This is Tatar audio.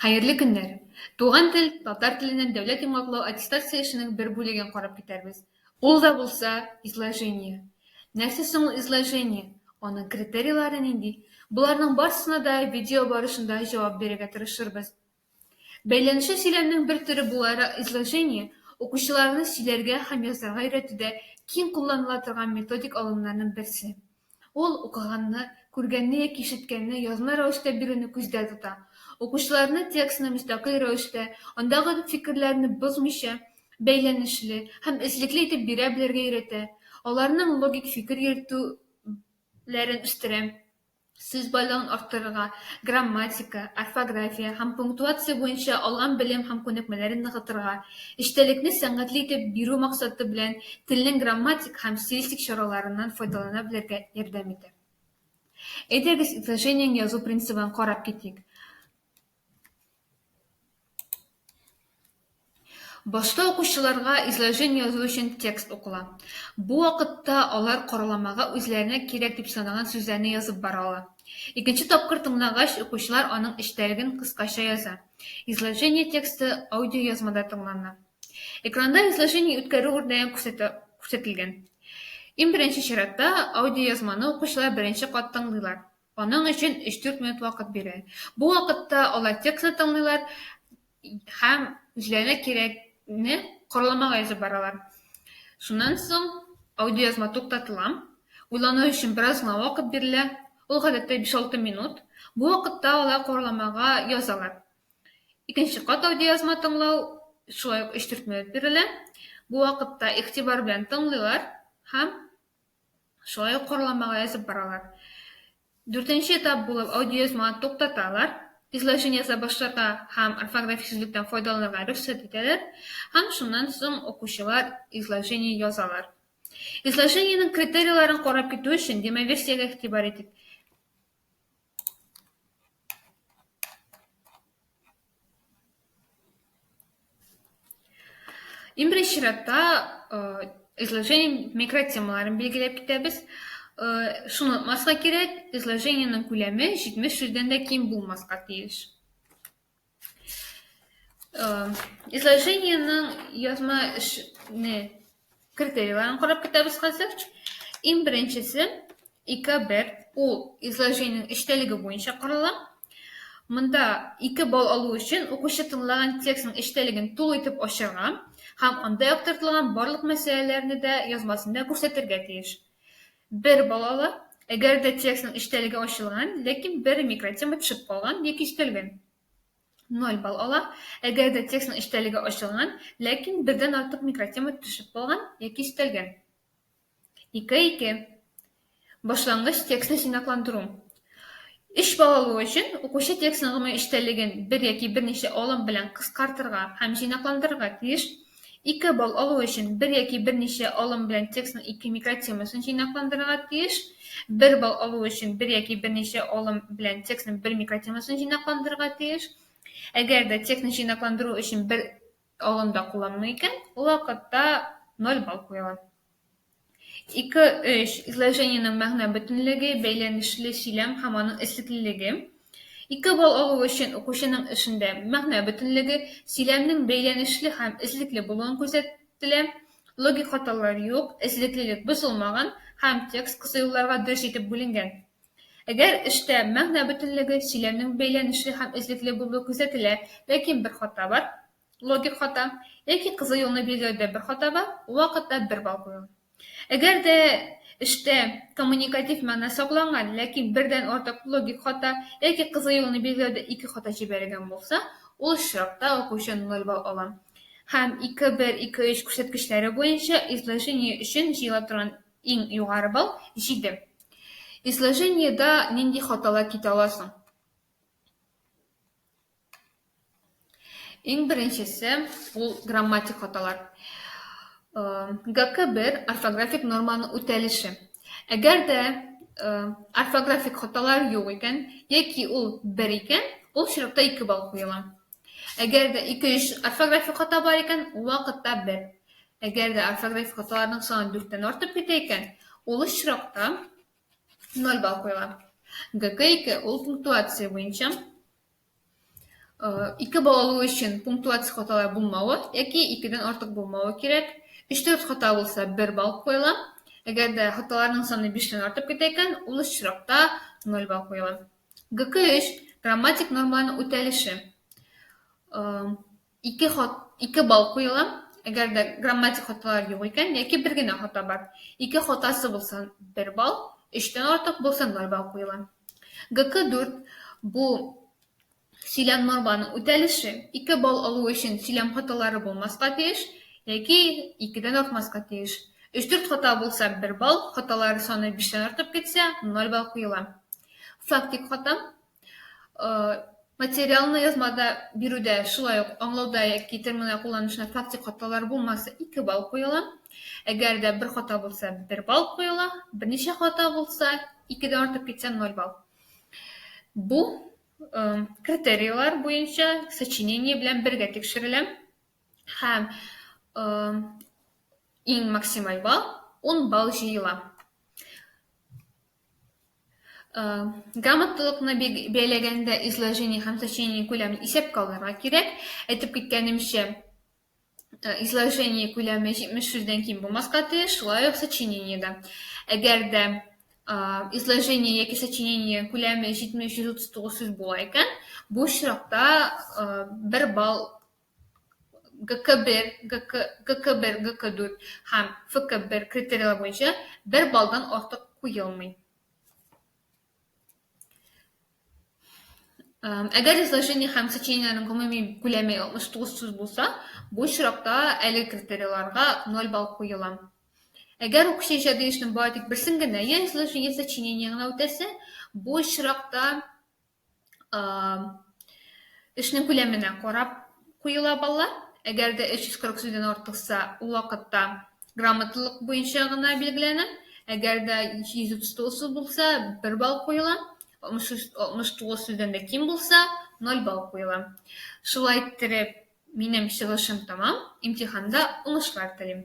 Хәерле көннәр! Туган тел, татар теленнән дәүләт йомгаклау аттестация эшенең бер бүлеген карап китәрбез. Ул да булса, изложение. Нәрсә соң ул изложение? Аның критерийлары нинди? Боларның барсына да видео барышында җавап бирергә тырышырбыз. Бәйләнүче сөйләмнең бер төре буларак изложение укучыларны сөйләргә һәм язарга өйрәтүдә киң кулланыла торган методик алымнарның берсе. Ул укыганны, күргәнне яки ишеткәнне язма рәвештә бирүне күздә тота. Укучыларны текстны мөстәкыйль рәвештә, андагы фикерләрне бозмыйча, бәйләнешле һәм эзлекле итеп бирә белергә өйрәтә, аларның логик фикер йөртү ләрен үстерә, сүз байлыгын арттырырга, грамматика, орфография һәм пунктуация буенча алган белем һәм күнекмәләрен ныгытырга, Эчтәлекне сәнгатьле итеп бирү максаты белән телнең грамматик һәм стилистик чараларыннан файдалана белергә ярдәм итә. Әйдәгез изложениең язу принцибын карап китик. Башта укучыларга изложень язу өчен текст укыла. Бу вакытта алар караламага үзләренә кирәк дип санаган сүзләрне язып бара ала. Икенче тапкыр тыңлагач, укучылар аның эчтәлеген кыскача яза. Изложение тексты аудиоязмада тыңлана. Экранда изложение үткәрү үрнәген күрсәтелгән. Иң беренче чиратта аудиоязманы укучылар беренче кат тыңлыйлар. Аның өчен 3-4 минут вакыт бирә. Бу вакытта алар текстны тыңлыйлар һәм үзләренә кирәкне корламага язып баралар. Шуннан соң аудиоязма туктатыла. Уйлану өчен бераз гына вакыт бирелә. Ул гадәттә биш-алты минут. Бу вакытта алар корламага язалар. Икенче кат аудиоязма тыңлау шулай ук өч-дүрт минут бирелә. Бу вакытта игътибар белән тыңлыйлар һәм шулай ук корламага язып баралар. Дүртенче этап булып аудиоязманы туктаталар, изложение яза башларга һәм орфографик сүзлектән файдаланырга рөхсәт итәләр һәм шуннан соң укучылар изложение язалар. Изложениенең критерийларын карап китү өчен демоверсиягә игътибар итик. Иң беренче чиратта э, изложение микротемаларын билгеләп китәбез. Э, шуны онытмаска кирәк, изложениенең күләме 70 сүздән дә ким булмаска тиеш. Изложениенең язма эшне критерийларын карап китәбез хәзер. Иң беренчесе, ике бер, ул изложениенең эчтәлеге буенча карала. Монда ике бал алу өчен укучы тыңлаган текстның эчтәлеген тулы итеп ачарга һәм анда яктыртылган барлык мәсьәләләрне дә язмасында күрсәтергә тиеш. Бер балалы, әгәр дә текстның эчтәлеге ачылган, ләкин бер микротема төшеп калган яки өстәлгән. Ноль балл ала, әгәр дә текстның эчтәлеге ачылган, ләкин бердән артык микротема төшеп калган яки өстәлгән. Ике ике. Башлангыч текстны җыйнакландыру. Эш балалыгы өчен укучы текстның гомуми эчтәлеген бер яки берничә алым белән кыскартырга һәм җыйнакландырырга тиеш. Ике балл алу өчен бер яки берничә алым белән текстның ике микротемасын җыйнакландырырга тиеш. Бер балл алу өчен бер яки берничә алым белән текстның бер микротемасын җыйнакландырырга тиеш. Әгәр дә текстны җыйнакландыру өчен бер алым да кулланылмый икән, ул вакытта 0 балл куела. 2-3. Изложениенең мәгънә бөтенлеге, бәйләнешле сөйләм һәм аның эшлеклелеге. 2 балл алу өчен укучының эшендә мәгънә бөтенлеге, сөйләмнең бәйләнешле һәм эзлекле булуын күрсәтелә, логик хаталар юк, эзлеклелек бозылмаган һәм текст кыса юлларга дөрес итеп бүленгән. Әгәр эштә мәгънә бөтенлеге, сөйләмнең бәйләнешле һәм эзлекле булуы күрсәтелә, ләкин бер хата бар, Логик хата, яки кызыл юлны билгеләүдә бер хата бар, вакытта бер балл куюы. Әгәр дә эштә коммуникатив мәгънә сакланган, ләкин бердән артык логик хата, яки кызыл юлны билгеләүдә ике хата җибәрелгән булса, ул очракта укучы 0 балл ала. Һәм 2, 1, 2, 3 күрсәткечләре буенча изложение өчен җыела торган иң югары балл, 7. Изложениедә нинди хаталар китә ала соң? Иң беренчесе, ул грамматик хаталар. ГК бер орфографик норманы үтәлеше. Әгәр дә орфографик хаталар юк икән, яки ул бер икән, ул чиратта ике балл куела. Әгәр дә ике-өч орфографик хата бар икән, ул вакытта бер. Әгәр дә орфографик хаталарның саны дүрттән артып китә икән, ул очракта ноль балл куела. ГК ике, ул пунктуация буенча. Ике балалы өчен пунктуация хаталар булмавы яки икедән артык булмавы кирәк. 3-4 хата булса, 1 балл куела. Әгәр дә хаталарның саны 5-тән артып китә икән, ул очракта 0 балл куела. ГК3 грамматик нормаларның үтәлеше. Ике хат, ике бал куела. Әгәр дә грамматик хаталар юк икән, яки бер генә хата бар. Ике хатасы булса, бер бал, өчтән артык булса, ноль бал куела. ГК 4 бу сөйләм норманың үтәлеше. Ике бал алу өчен сөйләм хаталары булмаска тиеш, яки икедән артмаска тиеш. Өч-дүрт хата булса, бер бал, хаталар саны биштән артып китсә, ноль бал куела. Фактик хата, Материалны язмада бирүдә шулай ук аңлауда яки терминлар кулланышына фактик хаталар булмаса 2 балл куела. Әгәр дә бер хата булса 1 балл куела, берничә хата булса 2-дән артып китсә 0 балл. Бу э, критерийлар буенча сочинение белән бергә тикшерелә. Һәм э, иң максималь балл 10 балл җыела. Грамоталыкны бәяләгәндә изложение һәм сочинение күләмен исәпкә алырга кирәк. Әйтеп киткәнемчә, изложение күләме 70 сүздән ким булмаска тиеш, шулай ук сочинение да. Әгәр дә изложение яки сочинение күләме 70-139 сүз була икән, бу очракта бер балл ГК бер, ГК, ГК бер, ГК дүрт һәм ФК бер критерийлар буенча бер баллдан артык куелмый. Әгәр изложение һәм сочинениеләрнең гомуми күләме 69 сүз булса, бу очракта әле критерийларга 0 балл куела. Әгәр укучы иҗади эшнең бары тик берсен генә, я изложение, я сочинение генә үтәсә, бу очракта эшнең күләменә карап куела баллар. Әгәр дә 340 сүздән артыкса, ул вакытта грамотлылык буенча гына билгеләнә. Әгәр дә 139 сүз булса, 1 балл куела. 69 сүздән дә ким булса, 0 балл куела. Шулай иттереп, минем чыгышым тамам. Имтиханда уңышлар телим.